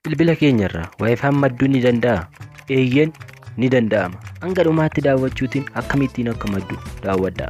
Bilbila keenyarraa waayifaan madduun ni danda'a? Eeyyeen ni danda'ama. Hanga dhumaatti daawwachuutiin akkamittiin akka maddu daawwadhaa.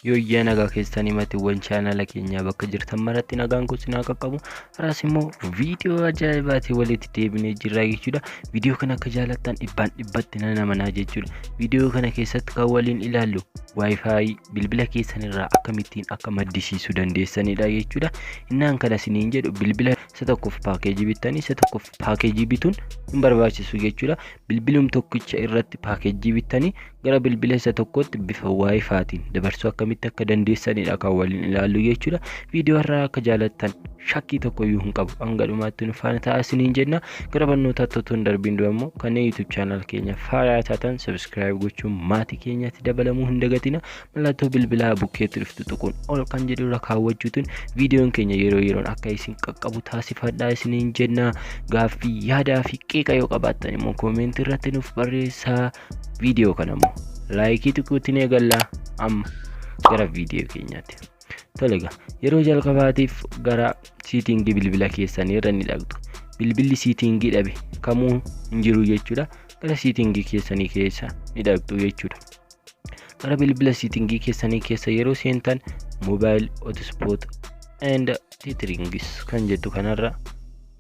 Yooyyaa nagaa keessanii matiiwwan chaanala keenyaa bakka jirtan maratti nagaan kun sinaa qaqqabu Har'as immoo viidiyoo ajaa'ibaatiin walitti deebinee jirra jechuudha. Viidiyoo kana akka jaalattan dhibbaan dhibbatti nan amanaa jechuudha. Viidiyoo kana keessatti kan waliin ilaallu Wi-Fi bilbila keessan irraa akkamittiin akka maddisiisuu dandeessanidha jechuudha. Innaan kana isiniin jedhu bilbila isa tokkoof paakeejii bittanii isa tokkoof paakeejii bituun hin barbaachisu jechuudha. Bilbilum tokkicha irratti paakeejii bittanii gara bilbila isa tokkotti bifa waayifaatiin dabarsuu akkamitti akka dandeessanidha kan waliin ilaallu jechuudha. Viidiyoo irraa akka jaalattan shakkii tokko iyyuu hin qabu. Hanga dhumaatti nu faana ta'aa isiniin jenna. Gara barnootaa totoon darbiin dura immoo kanneen YouTube channel keenya faaraa taatan subscribe gochuun maatii keenyatti dabalamuu hin dagatina. mallattoo bilbilaa bukkeetti dhuftu tuquun ol kan jedhu irra kaawwachuutiin viidiyoon keenya yeroo yeroon akka isin qaqqabu taasifadhaa isiniin jenna gaaffii yaadaa fi qeeqa yoo qabaattan immoo koomentii irratti nuuf barreessaa viidiyoo kana immoo laayikii tuquutiin eegallaa amma gara viidiyoo keenyaatti. Tole egaa yeroo jalqabaatiif gara siitingii bilbila keessanii irra ni dhaqxu. Bilbilli siitingii dhabe kamuu hin jiru jechuudha. Gara siitingii keessanii keessa ni dhaqxu jechuudha. Gara bilbila siitingii keessanii keessa yeroo seentan mobile hotspot and titrings kan jettu kanarra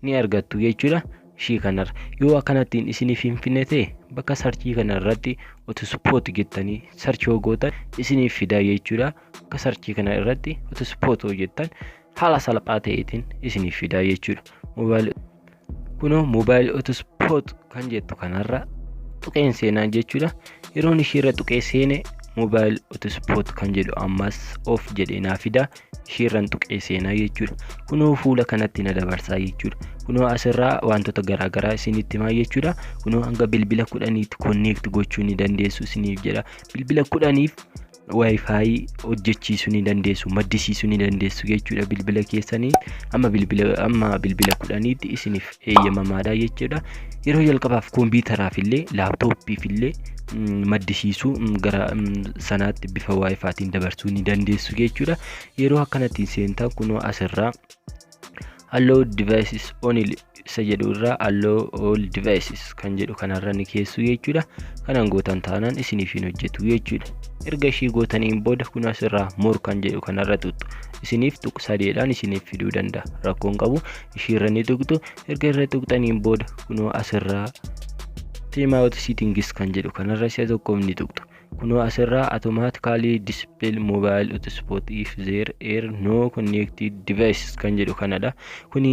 ni argattu jechuudha. Ishii kanarra yoo akkanattiin isiniif hin finne ta'e bakka sarchii kanarratti hotspot jettanii sarchii yoo gootan isiniif fidaa jechuudha. Bakka sarchii kana irratti hotspot yoo jettan haala salphaa ta'eetiin isiniif fidaa jechuudha. Mobile kunoo mobile hotspot kan jettu kanarra tuqeen seenaa jechuudha yeroon ishiirra tuqee seene mobile hotspot kan jedhu ammas of jedhee naa fida ishiirran tuqee seenaa jechuudha kunoo fuula kanatti na dabarsaa jechuudha kunoo asirraa wantoota garaagaraa isinitti himaa jechuudha kunoo hanga bilbila kudhaniitti konneekti gochuu ni dandeessu isiniif jedha bilbila kudhaniif wifi hojjechiisuu ni dandeessu maddisiisuu ni dandeessu jechuudha bilbila keessanii amma bilbila amma bilbila kudhaniitti isiniif eeyyamamaadha jechuudha yeroo jalqabaaf koompiyutaraaf illee laaptooppiif illee maddisiisuu gara sanaatti bifa waayifaatiin dabarsuu ni dandeessu jechuudha yeroo akkanatti seentan kunoo asirraa Allow devices only isa jedhu irraa allow all devices kan jedhu kanarra ni keessu jechuudha. Kanaan gootan taanaan isiniif hin hojjetu jechuudha. Erga ishii gootaniin booda kun asirraa more kan jedhu kanarra tuqxu. Isiniif tuq sadeedhaan isiniif fiduu danda'a. Rakkoon qabu ishii irra ni tuqxu. Erga irra tuqxaniin booda kunoo asirraa time out settings kan jedhu kanarra si'a tokkoof ni tuqxu. Kunoo asirraa automatically display mobile hotspot if there air no connected devices kan jedhu kanadha. Kuni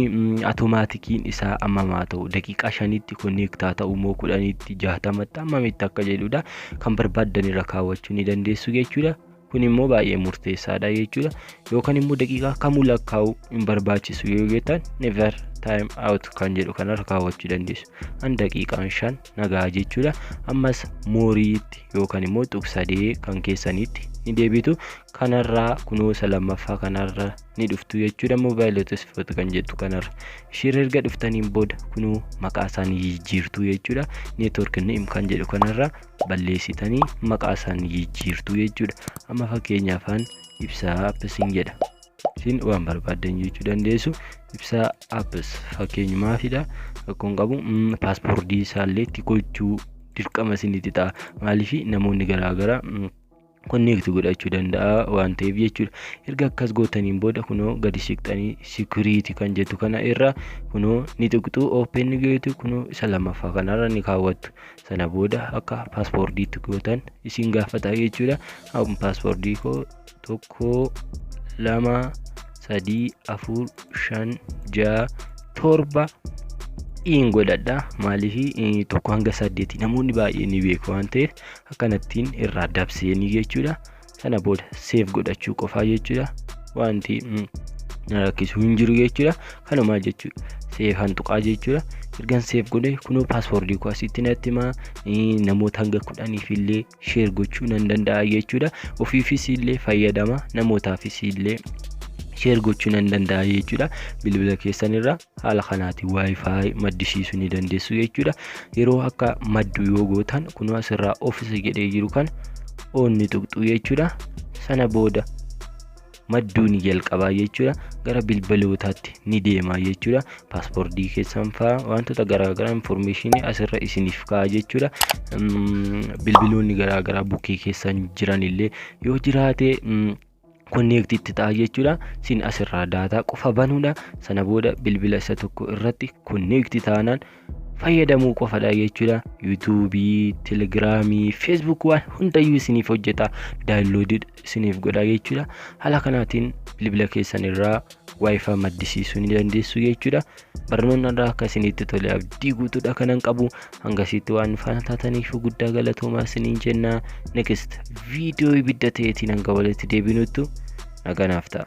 automaatikiin isaa ammamaa ta'u daqiiqaa shanitti connectaa ta'u moo kudhanitti jaatamatti ammamitti akka jedhudha. Kan barbaaddan irra kaawwachuu ni dandeessu jechuudha. Kun immoo baay'ee murteessaadha jechuudha. Yookaan immoo daqiiqaa kamuu lakkaa'u hin barbaachisu yoo jettan never time out kan jedhu kanarra kaawwachuu dandeessu. An daqiiqaan shan nagaa jechuudha ammas mooriitti yookaan immoo tuqsadee kan keessaniitti ni deebitu kanarraa kunuunsa lammaffaa kanarra ni dhuftu jechuudha moobaayilii tasiffatu kan jettu kanarra isheen erga dhuftaniin booda kunuu maqaa isaanii jijjiirtu jechuudha neetwork neem kan jedhu kanarra balleessitanii maqaa isaanii jijjiirtu jechuudha amma fakkeenyaafaan ibsaa appisiin jedha Siin waan barbaaddan jechuu dandeessu. Ibsaa apps fakkeenyumaafidha. Rakkoon qabu mm, paaspoortii isaallee itti gochuu dirqama isinitti ta'a. Maaliif namoonni garaagaraa mm, konneekti godhachuu danda'a waan ta'eef jechuudha. Erga akkas gootaniin booda kunoo gadi siqxanii sikiriiti kan jettu kana irra kunoo ni tuqxu open gootu kunoo isa lammaffaa kanarra ni kaawwattu. Sana booda akka paaspoortiitti gootan isin gaafata jechuudha. Amma paaspoortii koo tokko lama sadii afur shan ja'a torba in godhadha maaliif eh, tokko hanga saddeeti namoonni baay'ee ni beeku waan ta'eef akkanattiin irraa dabseenii jechuudha sana booda seef godhachuu qofaa jechuudha wanti mm, na rakkisu hin jiru jechuudha kanumaa jechuudha seef hantuqaa jechuudha ergan seef godhe kunoo paaswoordii koo asitti natti himaa eh, namoota hanga kudhaniif illee sheer gochuu nan danda'a jechuudha ofiifis illee fayyadama namootaafis illee sheer gochuu nan danda'a jechuudha bilbila keessan irra haala kanaatiin waayifaayi maddisiisuu ni dandeessu jechuudha yeroo akka maddu yoo gootan kunoo asirraa ofisa jedhee jiru kan oonni tuqxu jechuudha sana booda madduu ni jalqabaa jechuudha gara bilbalootaatti ni deemaa jechuudha paaspoortii keessan faa wantoota garaagaraa infoormeeshinii asirra isiniif ka'a jechuudha bilbiloonni garaagaraa bukkee keessan jiran illee yoo jiraate konneekti itti ta'a jechuudha sin asirraa daataa qofa banuudha sana booda bilbila isa tokko irratti konneekti taanaan fayyadamuu qofadha jechuudha. Yuutuubii, Telegiraamii, Feesbuuk waan hundayyuu isiniif hojjeta. Daawunloodii isiniif godha jechuudha. Haala kanaatiin bilbila keessan irraa waayifaa maddisiisuu ni dandeessu jechuudha. Barnoonni irraa akka isinitti tole abdii guutuudha kanan qabu. Hangasitti waan faana taataniif guddaa galatoomaa isiniin jenna. Next viidiyoo ibidda ta'eetiin hanga walitti deebinuttu naganaaf ta'a.